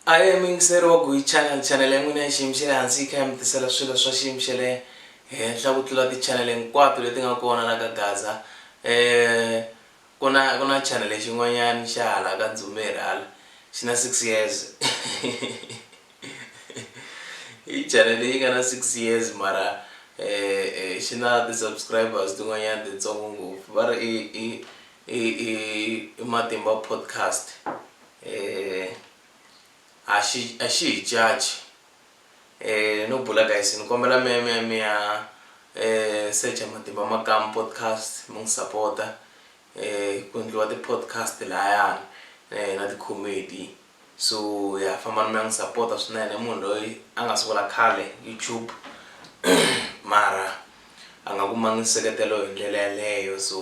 Ayo miyingiseri wa Guy Channel, chanele ya n'wina ya xiyimo xa le hansi yi kha yi mi tisela swilo swa xiyimo xa le henhla ku tlula tichanele hinkwato leti nga kona la ka Gaza. Ku na ku na chanele xin'wanyana xa hala ka Dzumeri hala xi na six years i chanele yi nga na six years mara xi na ti-subscribers tin'wanyana titsongo ngopfu va ri i i i i i Matimba Podcast. Eh a xi a xi hi caci eh no bula guys ni kombela mi mi mi ya eh secha matimba makamu podcast mi n'wi sapota eh ku endliwa ti podcast layani eh na ti comedy so ya fambani mi ya n'wi sapota swinene munhu loyi a nga sungula khale YouTube mara a nga kumangi nseketelo hi ndlela yaleyo so.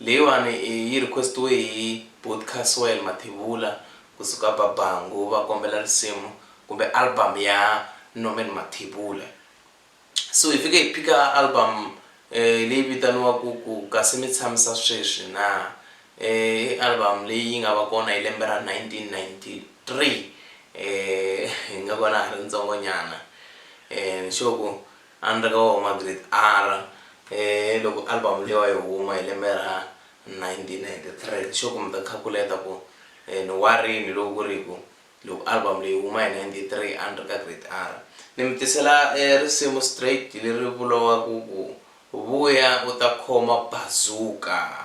Leyiwani i yi request-iwe hi Buti Caswell Mathebula ku suka ba Bangu va kombela risimu kumbe album ya Norman Mathebula. So hi fike hi phika album leyi vitaniwaku ku kasi mi tshamisa sweswi na i album leyi yi nga va kona hi lembe ra 1993 hi nga vona ha ri ntsongo nyana ni sure ku A ni ri ka wona magrade R hi loko album leyiwa yi huma hi lembe ra 1993. Sure ku mi ta khakuleta ku ni wa rini loko ku ri ku loko album leyi yi huma hi 93 a ni ri ka grade R. Ni mi tisela risimu straight leri vuriwaka ku, Vuya u ta khoma bazooka.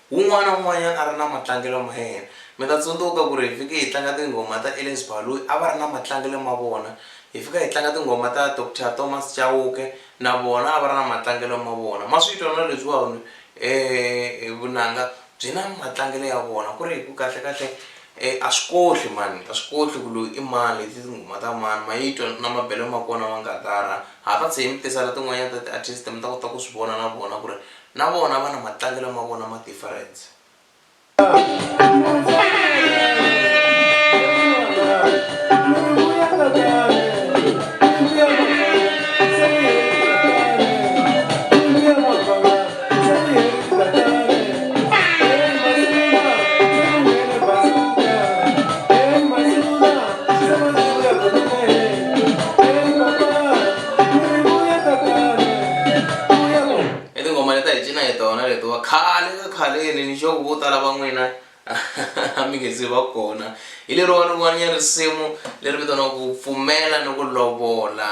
Wun'wana wun'wanyana a ri na matlangelo ma yena. Mi ta tsundzuka ku ri hi fike hi tlanga tinghoma ta Elias Baloyi, a va ri na matlangelo ma vona. Hi fika hi tlanga tinghoma ta Doctor Thomas Chauke, na vona a va ri na matlangelo ma vona. Ma swi twa na leswiwani vunanga byi na matlangelo ya vona, ku ri hi ku kahle-kahle a swi kohli mani, a swi kohli ku loyi i mani, leti i tinghoma ta mani, ma yi twa na mabelo ma kona ma ngatara. Ha ta tshe hi mi tisela tin'wanyana ta ti-artist mi ta kota ku swi vona na vona ku ri Na vona vana matlangelo ma vona ma difference. i tinghoma leta hi cina hi tona letiwa khale ka khaleni ni xoku vo tala va n'wina a mi nge se va kona hi leriwa rin'wani ya risimu leri vitaniwa ku pfumela ni ku lovola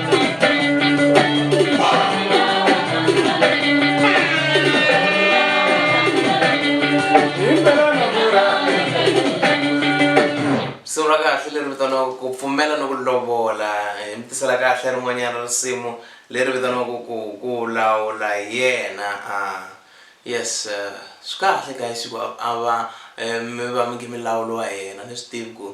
risimu ra kahle leri vitaniwaka ku pfumela ni ku lovola hi mi tisela kahle rin'wanyana risimu leri vitaniwaka ku ku lawula hi yena a yes eh, swi kahle guys ku a va eh, mi va mi nge mi lawuliwa hi yena ni swi tivi ku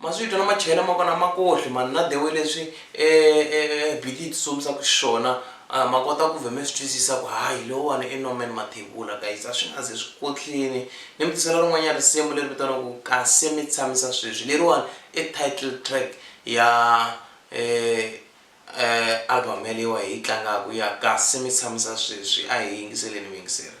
Maswito na machela ma kona ma kohle mani na the way leswi e e biti yi tsutsumsaka xiswona uh, ma kota ku vhe mi swi twisisa ku hayi lowani i Norman Mathebula guys a swi nga ze swi kotlini ni mi tisela rin'wanyana risimu leri vitaniwaka ku kasi mi tshamisa sweswi leriwani i title track ya eh, eh, album yaleyiwa hi yi tlangaka ya kasi mi tshamisa sweswi a hi yingiseleni vayingiseri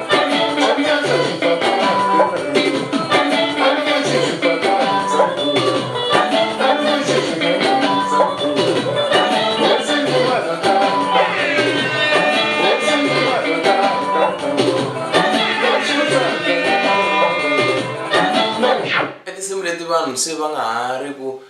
Tinsimu leti vanhu se va nga ha ri ku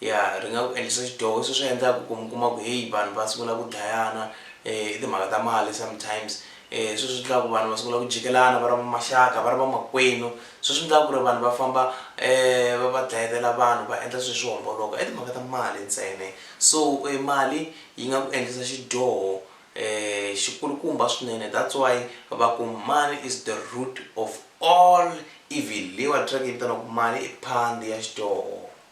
Ya, ri nga ku endlisa xidyoho. Hi swona swi endlaka ku mi kuma ku heyi vanhu va sungula ku dlayana hi timhaka ta mali sometimes. Hi swona swi endlaka ku vanhu va sungula ku jikelana va ri va maxaka, va ri vamakwenu. Hi swona swi endlaka ku ri vanhu va famba va va dlayetela vanhu, va endla swilo swi homboloka i timhaka ta mali ntsena. So mali yi nga ku endlisa xidyoho xi kulukumba swinene. That's why va ku money is the root of all evil. Leyiwani track yi vitaniwa ku mali i phandi ya xidyoho.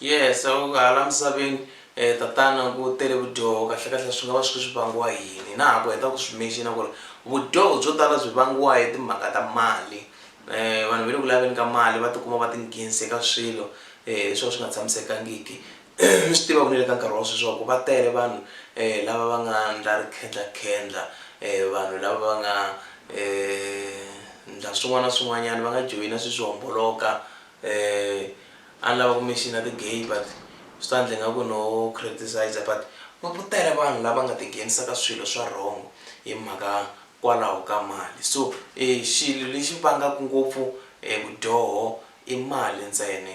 yes so hala misaveni um tatana ku tele vudyoho kahlekahle swi nga va swi ri swi vangiwa yini na ha ku heta ku swi menxina ku ri vudyoho byo tala byi vangiwa hi timhaka ta mali um vanhu va le ku laveni ka mali va tikuma va tinghenise ka swilo um swo ka swi nga tshamisekangiki mi swi tiva ku ni le ka nkarhi wa sweswi swa ku va tele vanhu lava va nga ndla rikhendlakhendla, vanhu lava va nga ndla swin'wana na swin'wanyana, va nga joyina swilo swo homboloka. A ni lava ku mention-a ti-gay but swi ta ndla ingaku no criticiser but va ku tele vanhu lava nga tinghenisa ka swilo swa wrong hi mhaka kwalaho ka mali. So xilo lexi vangaka ngopfu e vudyoho i mali ntsena.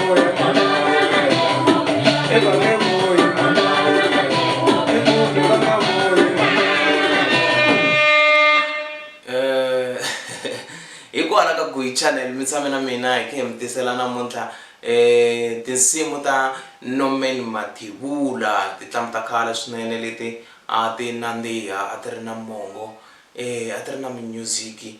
Eh, hi kona ka guyi channel mi tshame na mina hi khe mi tisela namuntlha um tinsimu ta norman mathivula titlamu ta khale swinene leti a ti nandziha a ti ri na mongo um a ti ri na minyuziki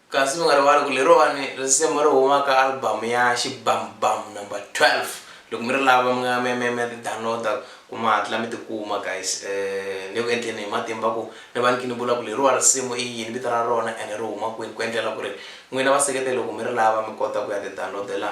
Kasi mi nga rivali ku leriwani risimu ri huma ka album ya Xibamubam number 12. Loko mi ri lava mi nga mi ya mi ya mi ya ti download-a ku mi hatla mi ti kuma guys. Ni le ku endleni hi matimba ku ni va ni kha ni vula ku leriwa risimu i yini, vito ra rona ene ri huma kwini ku endlela ku ri n'wina vaseketeri loko mi ri lava mi kota ku ya ti download-ela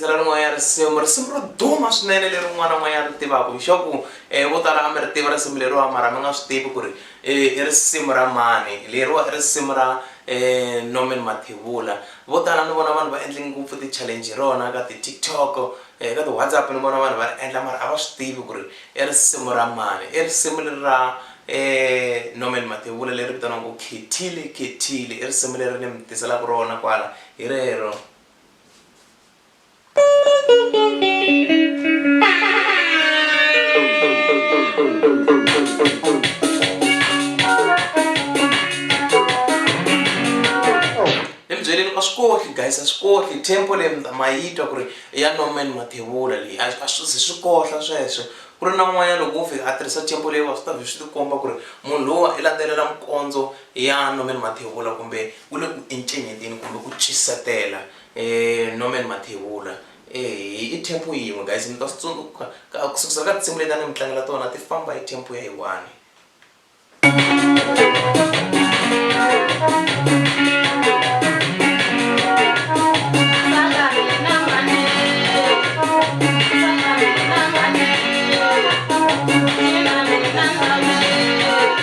ra rin'wanyana risimu risimu ro duma swinene leri un'wana n'wanyana ri tivaka hi swa ku um vo tala a mi ri tiva risimu leriwa mara mi nga swi tivi ku ri i risimu ra mani leriwa i risimu ra um norman mathevula vo tala ni vona vanhu va endle ngopfu ti-challenge hi rona ka ti-tiktok um ka ti-whatsapp ni vona vanhu va ri endla mara a va swi tivi ku ri i risimu ra mani i risimu leri ra um norman mathevula leri vitaniwaku khethile khethile i risimu leri ni mi tiselaka rona kwala hi rero guys a swi kohli tempo leyi mnda ma yi twa ku ri i ya norman mathevula leyi a swi zi swi kohla sweswo ku ri na n'wanyana loko wo fika a tirhisa tempo leyi wa swi ta vhe swi tikomba ku ri munhu lowa i landzelela mikondzo ya norman mathevula kumbe Ku le ku encenyeteni kumbe ku cisetela eh, Norman Mathebula eh, i tempo yin'we guys mi ta swi tsundzuka ku sukusela ka tinsimu leti a ni mi tlangela tona ti famba hi tempo ya yi one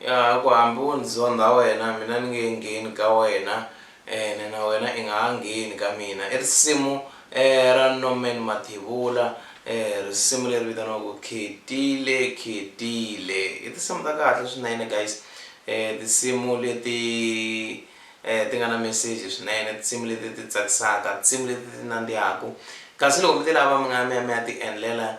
Ya ha ku, Hambi wo ndzi zondha wena, mina ni nge ngheni ka wena, ene na wena i nga ha ngheni ka mina. I risimu ra Norman Mathebula, risimu leri vitaniwaka Khetile Khetile. I tinsimu ta kahle swinene guys, tinsimu leti ti nga na meseji swinene, tinsimu leti ti tsakisaka, tinsimu leti ti nandzihaku. Kasi loko mi ti lava mi nga ya mi ya mi ya ti endlela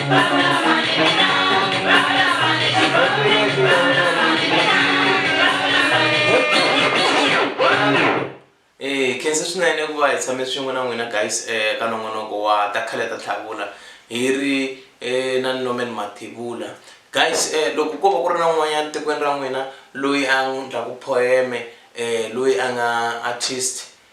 Eh, khensa swinene ku va hi tshame swin'we na n'wina guys eh, ka nongonoko wa ta khale ta tlhavula hi ri eh, na norman mathivula guys eh, loko ko va ku ri na un'wanyana tikweni ra n'wina loyi a ndlaku poeme eh, loyi a nga artist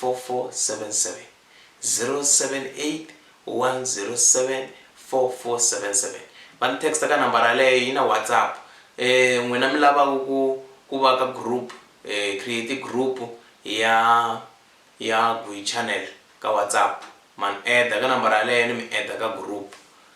4477 0781074477 va ni text ka nambara yaleyo yi na WhatsApp um n'wina mi lavaku ku ku va ka group um create group ya ya Guy channel ka WhatsApp ma ni add ka nambara yaleyo ni mi add ka group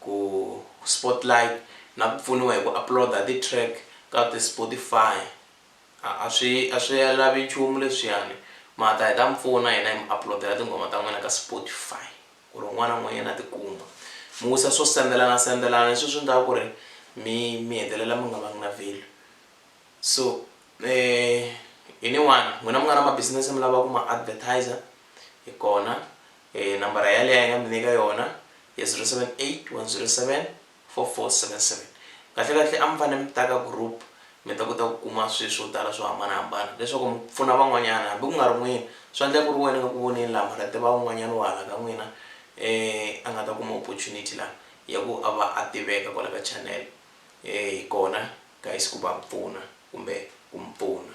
ku spotlight na ku pfuniwa hi ku upload-a ti track ka ti Spotify a a swi a swi ya lavi nchumu leswiyani ma ta hi ta mi pfuna hina hi mi upload-ela tinghoma ta n'wina ka Spotify ku ri un'wana na un'wanyana a ti kuma mi wisa swo sendelana sendelana leswi swi ndlaku ku ri mi mi hetelela mi nga vangi na value so hi ni one n'wina mi nga na ma business mi lava ku ma advertiser hi kona E, nambara yaleyo a hi nga mi nyika yona ya 0781074477. Kahle-kahle a mi fanele mi ta ka group mi ta kota ku kuma swilo swo tala swo hambana-hambana leswaku mi pfuna van'wanyana hambi ku nga ri n'wina. Swa endleka ku ri wena a nga ku voneni laha mara ti va un'wanyana wa hala ka n'wina e a nga ta kuma opportunity laha ya ku a va a tiveka kwala ka channel e hi kona guys ku va pfuna kumbe ku mi pfuna.